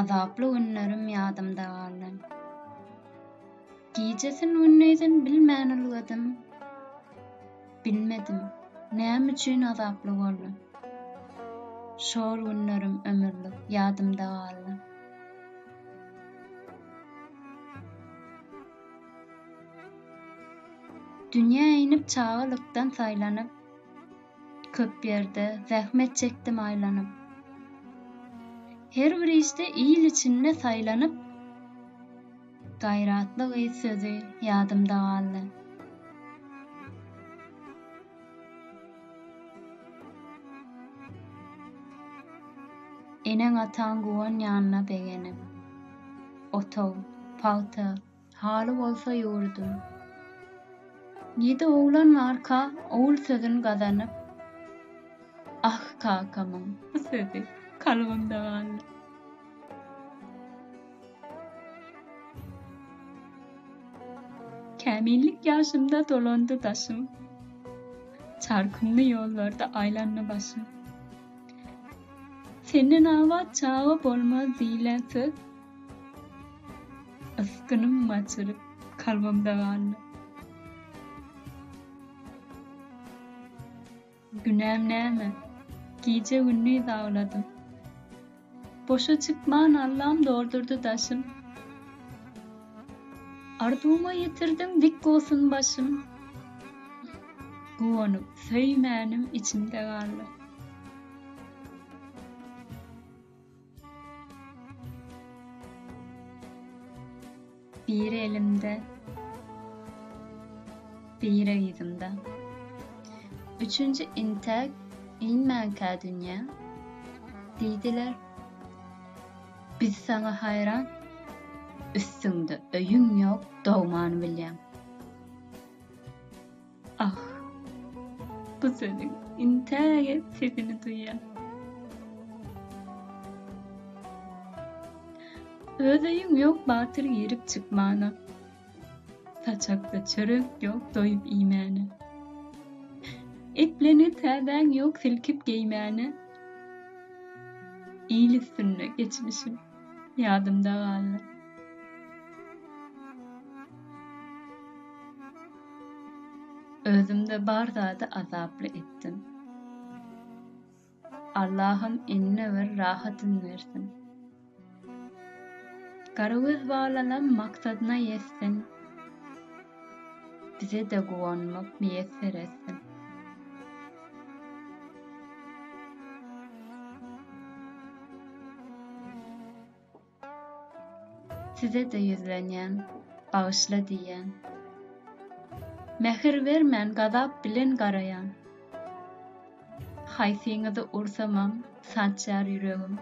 Azaply günlerim ýadymda galdy. Gijesin-gündisin bilmän ülgedim. Bilmedim, näme üçin azaply boldy. Şol günlerim ömürlik ýadymda galdy. Dünýä inip çagalykdan saýlanyp, Köp ýerde zähmet çekdim aýlanyp. Her bir işde il içinde saýlanyp. Gaýratly gyz sözi ýadymda galdy. Eneň-ataň guwanýanyna begenip. Ot-ow, pagta, Haly bolsa ýurdum. Ýedi oglan barka Ogul sözün gazanyp, Ah kakamyň bu sözi kalbymda galdy. Kämillik ýaşymda dolandy daşym, Çar kümli ýollarda aýlandy başym. Senden abat çaga bolmaz diýlen söz. Ysgynym açylyp, kalbymda galdy. Günäm näme? Gije-gündiz agladym. Boşa çykman Allam doldurdy daşym. Arzuwma ýetirdim dik bolsun başym. Guwanyp söýmänim içimde galdy. Bir elimde, bir yzymda. Üçünji intäk inmänkä dünýä, diýdiler. Biz saňa haýran, üstüňde öýüň ýok, dogman bilýän. Ah! Bu sözüň intäge sesini duýýan. Öz öýüň ýok batyr girip çykmana. Saçakda çörek ýok doýup iýmäne. Eplenen täzäň ýok silkip geýmäne. Il üstünde geçmişim ýadymda galdy. Özümde bar zady azaply etdim. Allahym inne bir rahatyn bersin. Garagöz balalam maksadyna ýetsin. Bize-de guwanmak miýesser etsin. Size-de ýüzlenýän, bagyşla diýýän. Mähir bermän gazap bilen garaýan. Haýsyňyzy ursamam sançýar ýüregim.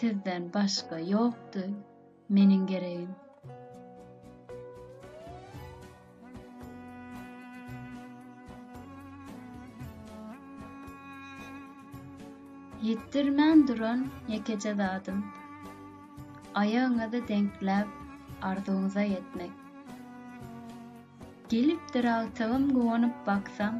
Sizden başga ýokdy meniň geregim. Ýitdirmän duran ýekeje zadym, Aýagyňyzy deňkläp, arzuwyňyza ýetmek. Gelipdir agtygym guwanyp baksaň,